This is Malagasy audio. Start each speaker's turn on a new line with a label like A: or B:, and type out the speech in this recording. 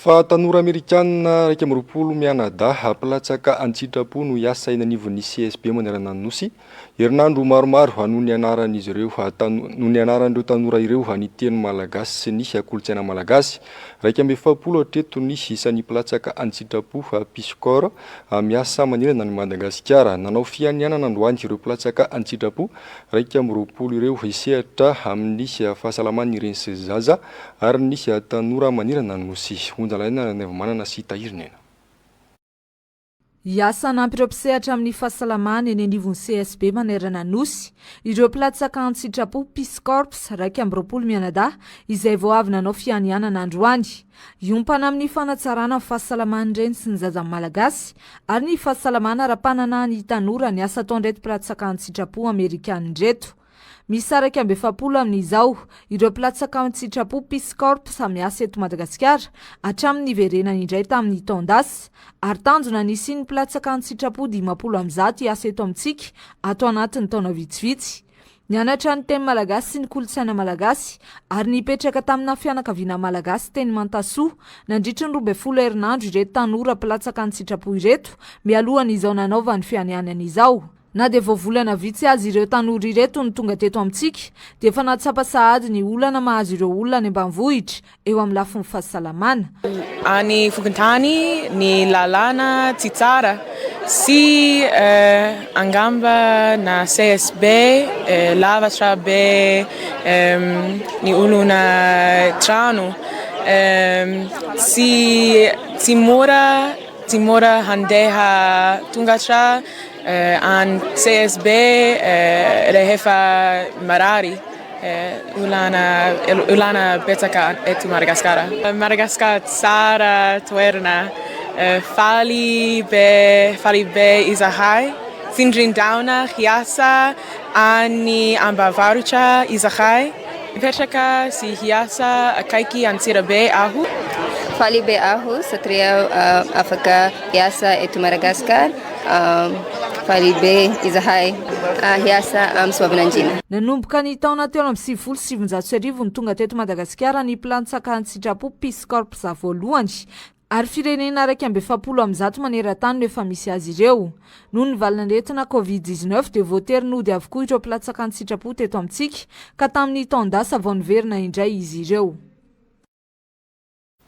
A: Fa tanora Amerikana iraika amby roapolo mianadahy mpilatsaka an-tsitrapo no hiasa eny anivon'ny CSB Manerana-Nosy, herinandro maromaro noho ny anaran'izy ireo noho ny anaran'ireo tanora ireo ny teny malagasy sy ny kolontsaina malagasy. Iraika amby efapolo hatreto ny isan'ny mpilatsaka an-tsitrapo, Peace Corps, miasa manerana an'i Madagasikara. Nanao fianianana androany ireo mpilatsaka an-tsitrapo iraika amby roapolo ireo hisehatra amin'ny fahasalaman'ny reny sy zaza, Ary nisy tanora manirana ny Nosy. Honja lainga Randrianaivomanana sy Tahiry Nena.
B: Hiasa hanampy ireo mpisehatra amin'ny fahasalamana eny anivon'ny CSB manerana ny Nosy ireo mpilatsaka an-tsitrapo, Peace Corps, iraika amby roapolo mianadahy izay vao avy nanao fianianana androany. Hiompana amin'ny fanatsarana ny fahasalaman'ny reny sy ny zaza malagasy ary ny fahasalamana ara-pananahan'ny tanora ny asa ataon'ireto mpilatsaka an-tsitrapo amerikana ireto. Miisa iraika amby efapolo amin'izao ireo mpilatsaka an-tsitrapo Peace Corps samiasa eto Madagasikara hatramin'ny niverenany indray tamin'ny taon-dasa ary tanjona ny hisian'ny mpilatsaka an-tsitrapo dimampolo amby zato hiasa eto amintsika ato anatin'ny taona vitsivitsy. Nianatra ny teny malagasy sy ny kolontsaina malagasy ary nipetraka tamina fianakaviana malagasy teny Mantasoa nandritry ny roa ambin'ny folo herinandro ireto tanora mpilatsaka an-tsitrapo ireto mialohan'izao nanaovany fianianany izao. Na dia vao volana vitsy aza ireo tanora ireto no tonga teto amintsika dia efa nahatsapa sahady ny olana mahazo ireo olona any ambanivohitra eo amin'ny lafiny fahasalamana. Any
C: fokontany ny lalana tsy tsara sy angamba na CSB be lavatra be ny olona trano tsy tsy mora tsy mora handeha tonga hatrany. Any CSB rehefa marary olana olana betsaka eto Madagasikara. Madagasikara tsara toerana faly be faly be izahay tsindrin-drahona hiasa any ambavarotra izahay hipetraka sy hiasa akaiky Antsirabe aho. Faly be
D: aho satria afaka hiasa eto Madagasikara Faribe izahay hiasa amin'ny soavinandriana. Nanomboka ny taona
B: telo amby sivifolo sy sivinjato sy arivo no tonga teto Madagasikara ny mpilantsaka an-tsitrapo, Peace Corps, voalohany, ary firenena iraika amby efapolo amin'ny zato maneran-tany no efa misy azy ireo. Noho ny valin'aretina Covid dix-neuf dia voatery nody avokoa ireo mpilatsaka an-tsitrapo teto amintsika, ka tamin'ny taon-dasa vao niverina indray izy ireo.